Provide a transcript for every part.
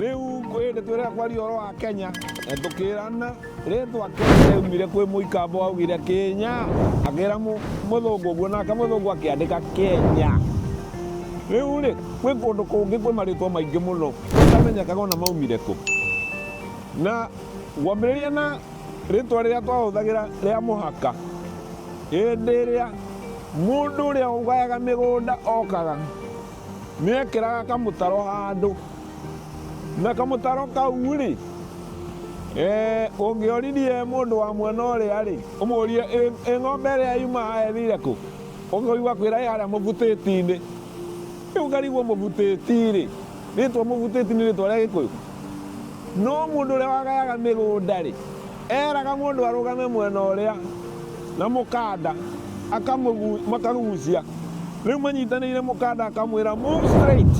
Rĩu kwĩ nĩ twĩrega kwaria ũhoro wa Kenya na tũkĩrana rĩtwa Kenya yaumire kwĩ mũikamba waugire Kenya akĩra mũ- mũthũngũ ũguo nake mũthũngũ akĩandĩka Kenya rĩu rĩ kwĩ kũndũ kũngĩ kwĩ marĩtwa maingĩ mũno ũtamenyekaga ona maumire kũ na ngwambĩrĩria na rĩtwa rĩrĩa twahũthagĩra rĩa mũhaka hĩndĩ ĩrĩa mũndũ ũrĩa ũgayaga mĩgũnda okaga Nĩ ekĩraga kamũtaro handũ, na kamũtaro kau-rĩ, ũngĩorithie mũndũ wa mwena ũrĩa-rĩ, ũmũrie ĩ ng'ombe ĩrĩa yuma haha ĩthire kũ? Ũkũigua akwĩra ĩ harĩa mũbutĩti-inĩ. Rĩu ngarigwo mũbutĩti-rĩ, rĩtwa mũbutĩti nĩ rĩtwa rĩa Gĩkũyũ? No mũndũ ũrĩa wagayaga mĩgũnda-rĩ. Eeraga mũndũ arũgame mwena ũrĩa, na mũkanda makarũgucia. Rĩu manyitanĩire mũkanda akamwĩra move straight.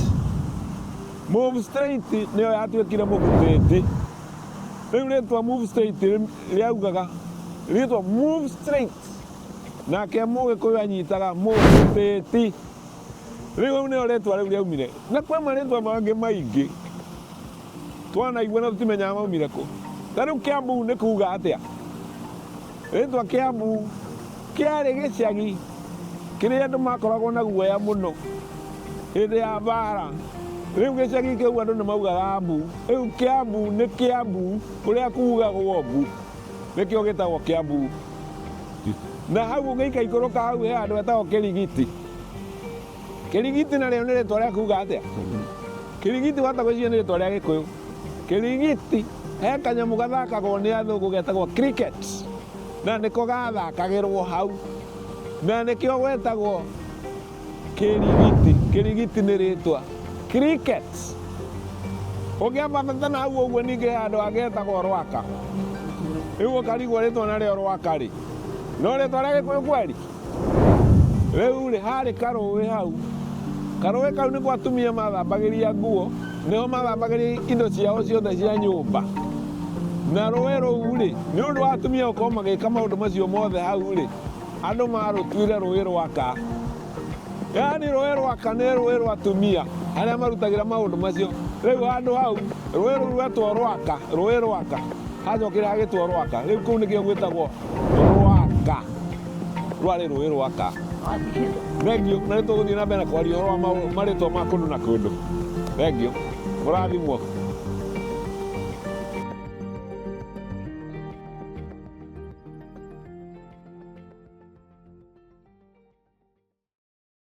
Move straight nĩyo yatuĩkire mũgutĩti. Rĩu rĩtwa move straight rĩaugaga rĩtwa move straight. Nake mũgĩkũyũ anyitaga mũgutĩti. Rĩu nĩyo rĩtwa rĩu rĩaumire, na kwĩ marĩtwa mangĩ maingĩ twanaigua na tũtimenyaga maumire kũ. Ta rĩu Kiambu nĩ kuuga atĩa? Rĩtwa Kiambu kĩarĩ gĩcagi kĩrĩa andũ makoragwo na guoya mũno hĩndĩ ya mbaara. Rĩu gĩcagi kĩu andũ nĩ maugaga mbu. Rĩu Kiambu nĩ Kiambu kũrĩa kuugagwo mbu, nĩkĩo gĩtagwo Kiambu. Na hau ũngĩika ikũrũka hau he handũ hetagwo Kĩrigiti. Kĩrigiti narĩo nĩ rĩtwa rĩa kuga atĩa? Kĩrigiti wahota gwĩciria nĩ rĩtwa rĩa Gĩkũyũ. Kĩrigiti he kanyamũ gathakagwo nĩ athũngũ getagwo cricket na nĩko gathakagĩrwo hau na nĩkĩo gwetagwo kĩrigiti. Kĩrigiti nĩ rĩtwa cricket. Ũngĩambata na hau ũguo ningĩ he handũ hangĩ hetagwo Rwaka, rĩu ũkarigwo rĩtwa narĩo Rwaka rĩ, no rĩtwa rĩa Gĩkũyũ kweri? Rĩu-rĩ, haarĩ karũũĩ hau. Karũũĩ kau nĩkuo atumia mathambagĩria nguo, nĩho mathambagĩria indo ciao ciothe cia nyũmba. Na rũũĩ rũu-rĩ, nĩ ũndũ wa atumia gũkorwo magĩka maũndũ macio mothe hau-rĩ, andũ maarũtuire rũũĩ rwa ka. Yaani rũũĩ rwa ka nĩ rũũĩ rwa atumia arĩa marutagĩra maũndũ macio. Rĩu handũ hau, rũũĩ rũu rwetwo Rwaka, rũũĩ rwa ka. Hacokire hagĩtwo Rwaka. Rĩu kũu nĩkĩo gwĩtagwo Rwaka. rwarĩ rũĩ rwaka thengio na nĩ tũgũthiĩ na mbere na kwaria ũhoro wa maũ- marĩtwa ma kũndũ na kũndũ thengio mũrathimwo